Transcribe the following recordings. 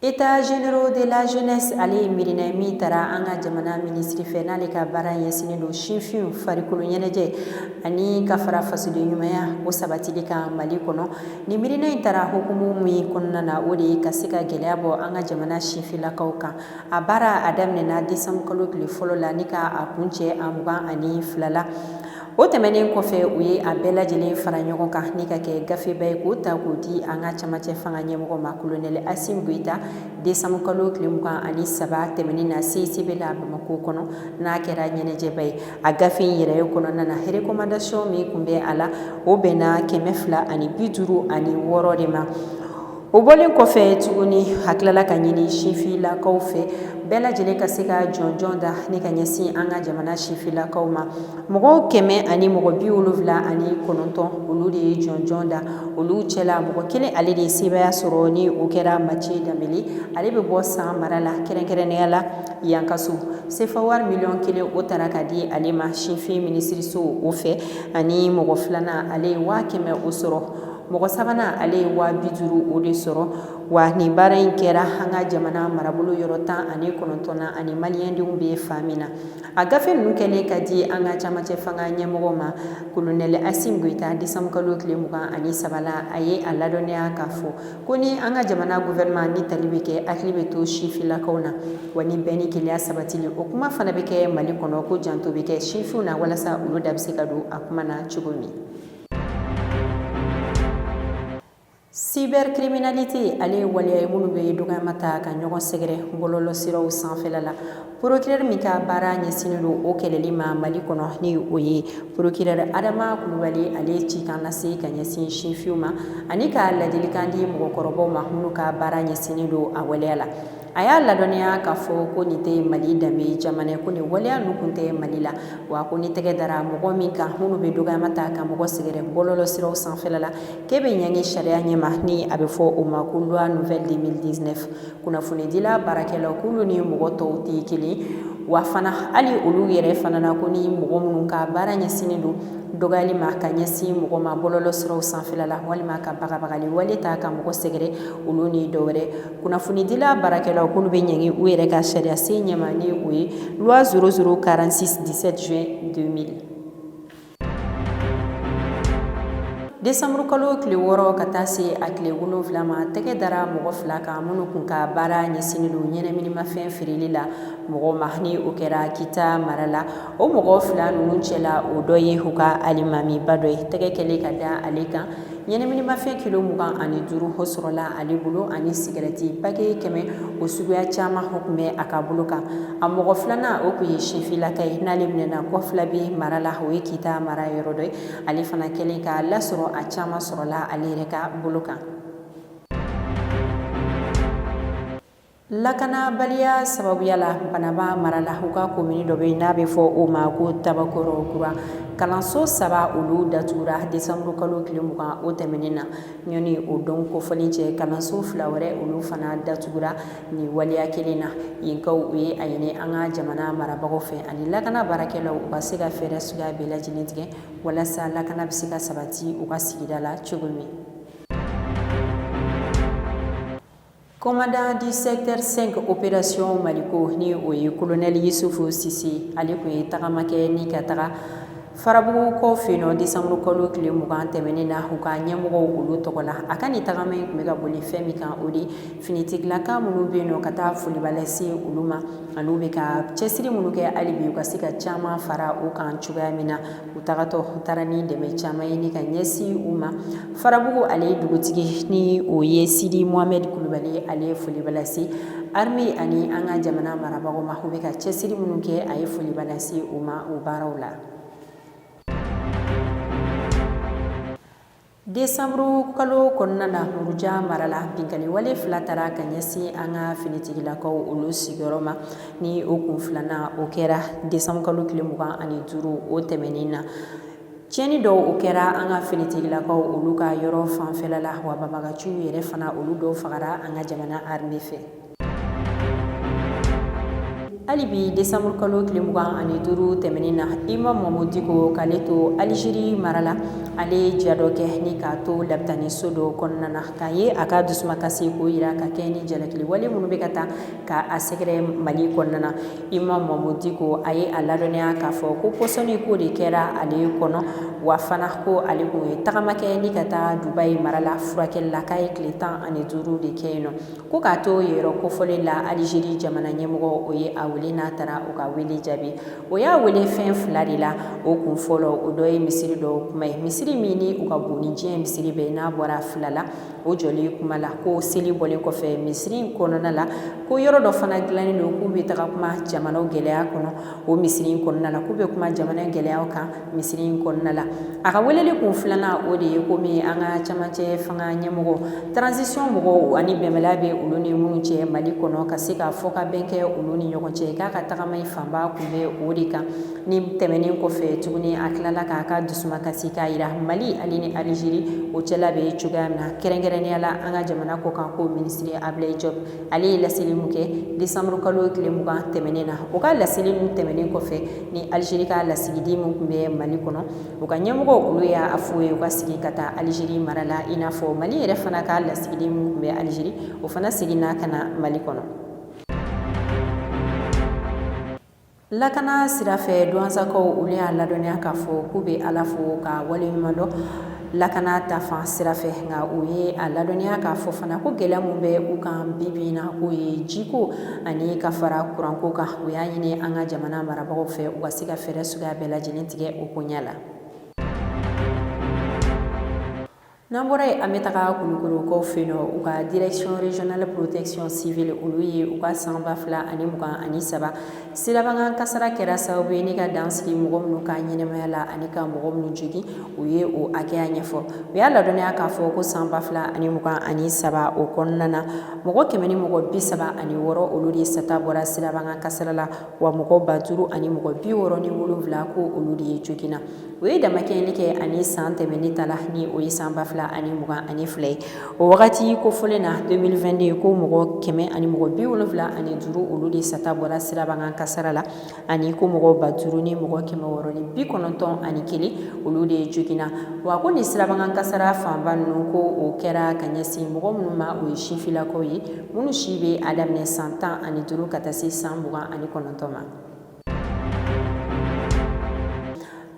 États généraux de la jeunesse ale ye miirina ye min taara an ka jamana minisiri fɛ n'ale ka baara ɲɛsinnen don sinfinw farikolo ɲɛnajɛ ani ka fara fasoden ɲumanya o sabatili kan mali kɔnɔ nin miirina in taara hukumu min kɔnɔna na o de ye ka se ka gɛlɛya bɔ an ka jamana sinfinlakaw kan a baara a daminɛna desanburukalo tile fɔlɔ la ni ka a kuncɛ a mugan ani fila la o tɛmɛnen kɔfɛ u ye a bɛɛ lajɛlen fara ɲɔgɔn kan ni ka kɛ gafeba ye k'o ta k'o di an ka camancɛ fanga ɲɛmɔgɔ ma kolonɛli asimi goyita desanburukalo tile mugan ani saba tɛmɛnen na CICB la bamakɔ kɔnɔ n'a kɛra ɲɛnajɛba ye a gafe in yɛrɛ ye kɔnɔna na recommandation min tun bɛ a la o bɛnna kɛmɛ fila ani bi duuru ani wɔɔrɔ de ma o bɔlen kɔfɛ tuguni hakilala ka ɲini sinfinlakaw fɛ bɛɛ lajɛlen ka se ka jɔnjɔn da ni ka ɲɛsin an ka jamana sinfinlakaw ma mɔgɔ kɛmɛ ani mɔgɔ bi wolonwula ani kɔnɔntɔn olu de ye jɔnjɔn da olu cɛla mɔgɔ kelen ale de ye sebaaya sɔrɔ ni o kɛra Mathieu Dembélé ale bɛ bɔ san mara la kɛrɛnkɛrɛnnenya la yankaso sefa wari miliyɔn kelen o taara ka di ale ma sinfin minisiriso o fɛ ani mɔgɔ filanan ale ye waa kɛmɛ o sɔrɔ mɔgɔ sabanan ale ye waa bi duuru o de sɔrɔ wa nin baara in kɛra an ka jamana marabolo yɔrɔ tan ani kɔnɔntɔn na ani maliyɛndenw bɛ fan min na a gafe ninnu kɛlen ka di an ka camancɛ fanga ɲɛmɔgɔ ma kolonɛli asimi goyita desanburukalo tile mugan ani saba la a ye a ladɔnniya k'a fɔ ko ni an ka jamana gouvernement ni tali bɛ kɛ hakili bɛ to sinfinlakaw na wa ni bɛn ni kelenya sabatili o kuma fana bɛ kɛ mali kɔnɔ ko janto bɛ kɛ sinfinw na walasa olu da bɛ se ka don a kuma na cogo min Cybercriminalité ale ye waleya ye minnu bɛ dɔgɔyama ta ka ɲɔgɔn sɛgɛrɛ bɔlɔlɔsiraw sanfɛla la porokirɛri min ka baara ɲɛsinnen don o kɛlɛli ma mali kɔnɔ ni o ye porokirɛri adama kulubali ale ye cikan lase ka ɲɛsin sinfinw ma ani ka ladilikan di mɔgɔkɔrɔbaw ma minnu ka baara ɲɛsinnen don a waleya la a y'a ladɔnniya k'a fɔ ko nin tɛ mali danbe jamana ye ko nin waleya ninnu tun tɛ mali la wa ko ni tɛgɛ dara mɔgɔ min kan minnu bɛ dɔgɔyama ta ka mɔgɔ sɛgɛrɛ bɔlɔlɔsiraw sanfɛla la k'e bɛ ɲangi sariya ɲɛma ni a bɛ fɔ o ma ko loi nouvelle deux mille dix-neuf kunnafonidila baarakɛlaw k'olu ni mɔgɔ tɔw tɛ kelen wa fana hali olu yɛrɛ fana na ko ni mɔgɔ minnu ka baara ɲɛsinnen don dɔgɔyali ma ka ɲɛsin mɔgɔ ma bɔlɔlɔsiraw sanfɛla la walima ka bagabagali wale ta ka mɔgɔ sɛgɛrɛ olu ni dɔwɛrɛ kunnafonidila baarakɛlaw k'olu bɛ ɲangi u yɛrɛ ka sariyasen ɲɛma ni o ye loi zéro zéro quarante-six dix-sept juin deux mille desanburukalo tile wɔɔrɔ ka taa se a tile wolonwula ma tɛgɛ dara mɔgɔ fila kan minnu tun ka baara ɲɛsinnen don ɲɛnaminimafɛn feereli la mɔgɔ ma ni o kɛra kita mara la o mɔgɔ fila ninnu cɛ la o dɔ ye u ka alimamiba dɔ ye tɛgɛ kɛlen ka da ale kan Ɲɛnaminimafɛn kilo mugan ani duuru o sɔrɔla ale bolo ani sigarɛti paquet 100 o suguya caman o kun bɛ a ka bolo kan, a mɔgɔ filanan o kun ye sifinlaka ye n'ale minɛna Kɔfilabɛ mara la, o ye Kita mara yɔrɔ dɔ ye, ale fana kɛlen k'a lasɔrɔ a caman sɔrɔla ale yɛrɛ ka bolo kan. Lakanabaliya sababuya la banamba mara la u ka komini dɔ bɛ n'a bɛ fɔ o ma ko tabakɔrɔkura kalanso saba olu datugura desanburu kalo tile mugan o tɛmɛnen na yanni o don kofɔlen cɛ kalanso fila wɛrɛ olu fana datugura nin waleya kelen na yenkaw u ye a ɲini an ka jamana marabagaw fɛ ani lakana baarakɛlaw u ka se ka fɛɛrɛ suguya bɛɛ lajɛlen tigɛ walasa lakana bɛ se ka sabati u ka sigida la cogo min Commandant du secteur cinq opération Maliko ni o ye kolonɛli yusufu sise ale kun ye tagama kɛ ni ka taga farabugu kɔ fɛ yen desanburu kalo tile mugan tɛmɛnen na u ka ɲɛmɔgɔw olu tɔgɔ la a ka nin tagama in kun bɛ ka boli fɛn min kan o de finitigilakaw minnu bɛ yen ka taa foliba lase olu ma ani u bɛ ka cɛsiri minnu kɛ hali bi u ka se ka caman fara u kan cogoya min na u tagatɔ u taara ni dɛmɛ caman ye ni ka ɲɛsin u ma farabugu ale ye dugutigi ni o ye sidi mohamɛdi kulubali ale ye foliba lase arime ani an ka jamana marabagaw ma u bɛ ka cɛsiri minnu kɛ a ye foliba lase u ma u baaraw la Desanburu kalo kɔnɔna na muruja mara la binkanni wale fila taara ka ɲɛsin an ka finitigilakaw olu sigiyɔrɔ ma ni o kun filanan o kɛra desanburu kalo tile mugan ani duuru o tɛmɛnen na ciɲɛni dɔw o kɛra an ka finitigilakaw olu ka yɔrɔ fanfɛla la wa banbagaciw yɛrɛ fana olu dɔw fagara an ka jamana arime fɛ hali bi desanburu kalo tile mugan ani duuru tɛmɛnen na imamu mahamudu diko k'ale to alizeri mara la ale ye ja dɔ kɛ ni k'a to labitani so dɔ kɔnɔna na k'a ye a ka dusumakasi ko jira ka kɛ ni jalakili wale minnu bɛ ka taa ka a sɛgɛrɛ mali kɔnɔna na imamu mahamudu diko a ye a ladɔnniya k'a fɔ ko pɔsɔni ko de kɛra ale kɔnɔ wa fana ko ale kun ye tagama kɛ ni ka taa dubayi mara la furakɛli la k'a ye tile tan ani duuru de kɛ yen nɔ ko k'a to yɔrɔ kofɔlen la alizeri jamana ɲɛmɔgɔ o ye a wele n'a taara o ka wele jaabi o y'a wele fɛn fila de la o kun fɔlɔ o dɔ ye misiri dɔ kuma ye misiri min ni u ka bon ni diɲɛ misiri bɛɛ n'a bɔra fila la o jɔlen kuma la ko seli bɔlen kɔfɛ misiri in kɔnɔna la ko yɔrɔ dɔ fana dilannen don k'u bɛ taga kuma jamanaw gɛlɛya kɔnɔ o misiri in kɔnɔna la k'u bɛ kuma jamana gɛlɛya kan misiri in kɔnɔna la a ka weleli kun filanan o de ye komi an ka camancɛ fanga ɲɛmɔgɔ transition mɔgɔw ani bɛnbaliya bɛ olu ni minnu cɛ mali kɔnɔ ka se ka fɔ ka bɛn kɛ olu ni ɲɔgɔn cɛ k'a ka tagama in fanba kun bɛ o de kan ni tɛmɛnen kɔfɛ tuguni a tilala k'a ka dusumakasi k'a yira mali ale ni alizeri o cɛla bɛ cogoya min na kɛrɛnkɛrɛnya la an ka jamana kɔkanko minisiri abulayi jɔpu ale ye laseli min kɛ desanburukalo tile mugan tɛmɛnen na o ka laseli min tɛmɛnen kɔfɛ ni alizeri ka lasigiden min kun bɛ mali kɔnɔ u ka ɲɛmɔgɔ olu y'a fɔ ye u ka segin ka taa alizeri mara la i n'a fɔ mali yɛrɛ fana ka lasigiden min kun bɛ alizeri o fana seginna ka na mali kɔnɔ lakana sira fɛ duwansakaw olu y'a ladɔnniya k'a fɔ k'u bɛ ala fo ka waleɲumandɔn lakana ta fan sira fɛ nka u ye a ladɔnniya k'a fɔ fana ko gɛlɛya minnu bɛ u kan bibi na k'o ye jiko ani ka fara kuranko kan u y'a ɲini an ka jamana marabagaw fɛ u ka se ka fɛɛrɛ suguya bɛɛ lajɛlen tigɛ o koɲa la n'an bɔra yen an bɛ taga kulukɔrɔkaw fɛ yen nɔ u ka direction régionale protection civile olu ye u ka san ba fila ani mugan ani saba sirabakan kasara kɛra sababu ye ni ka dan sigi mɔgɔ minnu ka ɲɛnamaya la ani ka mɔgɔ minnu jogin u ye o hakɛya ɲɛfɔ u y'a ladɔnniya k'a fɔ ko san ba fila ani mugan ani saba o kɔnɔna na mɔgɔ kɛmɛ ni mɔgɔ bi saba ani wɔɔrɔ olu de sata bɔra sirabakan kasara la wa mɔgɔ ba duuru ani mɔgɔ bi wɔɔrɔ ni wolonwula ko olu de ye joginna u ye damakɛɲɛni kɛ ani san tɛmɛnen ta la ni o ye san ba fila ani mugan ani fila ye o wagati kofɔlen na deux mille vingt-deux ye ko mɔgɔ kɛmɛ ani mɔgɔ bi wolonwula ani duuru olu de sata bɔra sirabakan kasara la ani ko mɔgɔ ba duuru ni mɔgɔ kɛmɛ wɔɔrɔ ni bi kɔnɔntɔn ani kelen olu de joginna wa ko nin sirabakan kasara fanba ninnu ko o kɛra ka ɲɛsin mɔgɔ minnu ma o ye sifilakaw ye minnu si bɛ a daminɛ san tan ani duuru ka taa se san mugan ani kɔnɔntɔn ma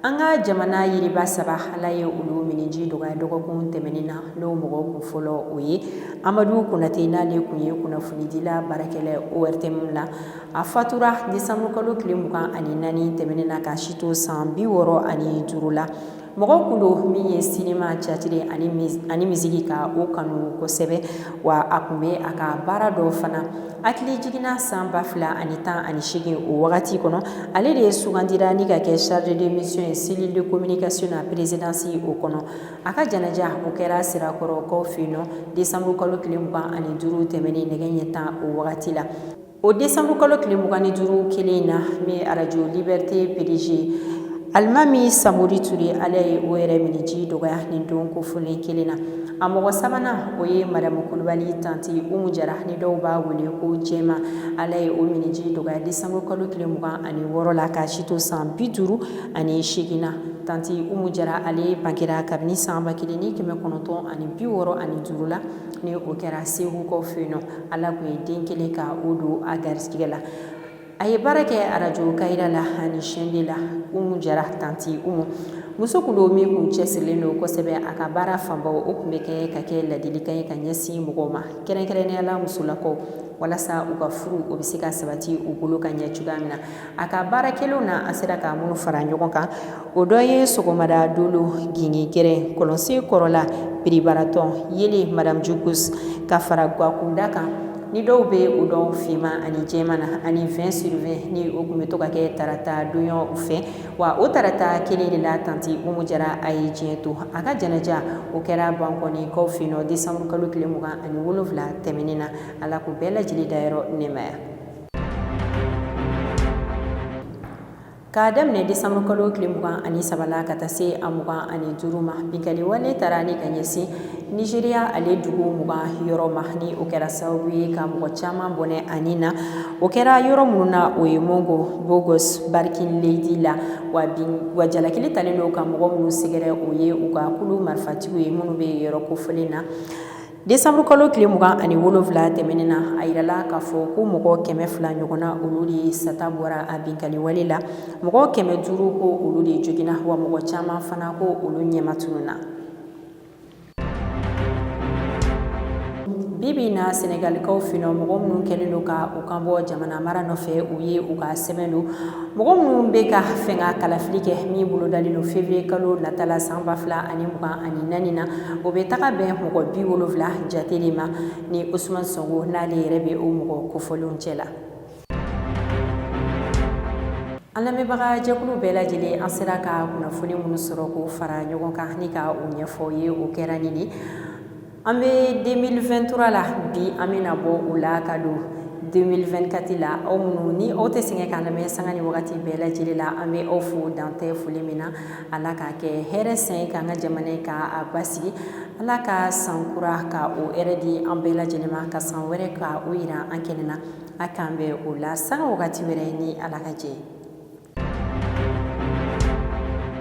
an ka jamana yiriba saba ala ye olu miniji dɔgɔya dɔgɔkun tɛmɛnen na n'o mɔgɔ kun fɔlɔ o ye amadu konatɛ n'ale kun ye kunnafonidila baarakɛla ortm la a fatura desanburukalo tile mugan ani naani tɛmɛnen na ka si to san bi wɔɔrɔ ani duuru la mɔgɔ kun don min ye sinima catiri ani misiki ka o kanu kosɛbɛ wa a kun bɛ a ka baara dɔn fana hakili jiginna san ba fila ani tan ani segin o wagati kɔnɔ ale de ye sugandira ni ka kɛ chargé de mission ye cellule de communication na présidence o kɔnɔ a ka janaja o kɛra sirakɔrɔkaw fɛ yen nɔ desanburukalo tile mugan ani duuru tɛmɛnen nɛgɛ ɲɛ tan o wagati la O desanburukalo tile mugan ni duuru kelen in na ni arajo libɛriti PDG Alimami Samori Ture Ala ye o yɛrɛ minniji dɔgɔya ni don kofɔlen kelen na a mɔgɔ sabanan o ye Madamu Kulubali tanti Umu Jara ni dɔw b'a wele ko Jɛma Ala ye o minniji dɔgɔya desanburukalo tile mugan ani wɔɔrɔ la k'a si to san bi duuru ani segin na tanti Umu Jara ale bangera kabini san ba kelen ni kɛmɛ kɔnɔntɔn ani bi wɔɔrɔ ani duuru la ni o kɛra segukaw fɛ yen nɔ Ala kun ye den kelen k' o don a garisɛgɛ la a ye baara kɛ arajo Kayira la ani chaîne deux la Umu Jara tanti Umu muso kun don min kun cɛsirilen don kosɛbɛ a ka baara fanba o kun bɛ kɛ ka kɛ ladilikan ye ka ɲɛsin mɔgɔw ma kɛrɛnkɛrɛnnenya la musolakaw walasa u ka furu o bɛ se ka sabati u bolo ka ɲɛ cogoya min na a ka baara kɛlenw na a sera ka minnu fara ɲɔgɔn kan o dɔ ye sɔgɔmada dolo gingin gɛrɛn kɔlɔnsen kɔrɔla piribaratɔn yele madamu jugus ka fara gakunda kan ni dɔw bɛ o dɔn finman ani jɛman na ani vingt sur vingt ni o kun bɛ to ka kɛ tarata donyaw fɛ wa o tarata kelen de la tanti Umu Jara a ye diɲɛ to a ka janaja o kɛra Bankɔnikaw fɛ yen nɔ desanburukalo tile mugan ani wolonwula tɛmɛnen na Ala k'u bɛɛ lajɛlen dayɔrɔ nɛɛmaya K'a daminɛ desanburukalo tile mugan ani saba la ka taa se a mugan ani duuru ma binkali wale taara ni ka ɲɛsin Nizeriya ale dugu mugan yɔrɔ ma ni o kɛra sababu ye ka mɔgɔ caman bɔnɛ a ni na o kɛra yɔrɔ minnu na o ye Mangu Bokkos Barkin Ladi la wa jalakili talen don ka mɔgɔ minnu sɛgɛrɛ o ye u ka kulu marifatigiw ye minnu bɛ yɔrɔ kofɔlen na Desanburukalo tile mugan ani wolonwula tɛmɛnen na a yirala k'a fɔ ko mɔgɔ kɛmɛ fila ɲɔgɔn na olu de sata bɔra a binkali wale la mɔgɔ kɛmɛ duuru ko olu de joginna wa mɔgɔ caman fana ko olu ɲɛmatununna bi bi na Senegalikaw fɛ yen nɔ mɔgɔ minnu kɛlen don ka u kan bɔ jamana mara nɔfɛ u ye u ka sɛbɛn don mɔgɔ minnu bɛ ka fanga kalafili kɛ min bolodalen don feweriyekalo nata la san ba fila ani mugan ani naani na o bɛ taga bɛn mɔgɔ bi wolofila jate de ma ni Usumani Sɔnko n'ale yɛrɛ bɛ o mɔgɔ kofɔlenw cɛ la an lamɛnbaga jɛkulu bɛɛ lajɛlen an sera ka kunnafoni minnu sɔrɔ k'o fara ɲɔgɔn kan ni ka o ɲɛfɔ ye o kɛra nin de an bɛ deux mille vingt-trois la bi an bɛ na bɔ o la ka don deux mille vingt-quatre la aw minnu ni aw tɛ sɛgɛn k'an lamɛn sanga ni wagati bɛɛ lajɛlen la an bɛ aw fo dan tɛ foli min na Ala k'a kɛ hɛrɛ san ye k'an ka jamana ye ka a basigi ala ka sankura ka o hɛrɛ di an bɛɛ lajɛlen ma ka san wɛrɛ ka o yira an kɛnɛ na a k'an bɛn o la sanga wagati wɛrɛ ni Ala ka jɛn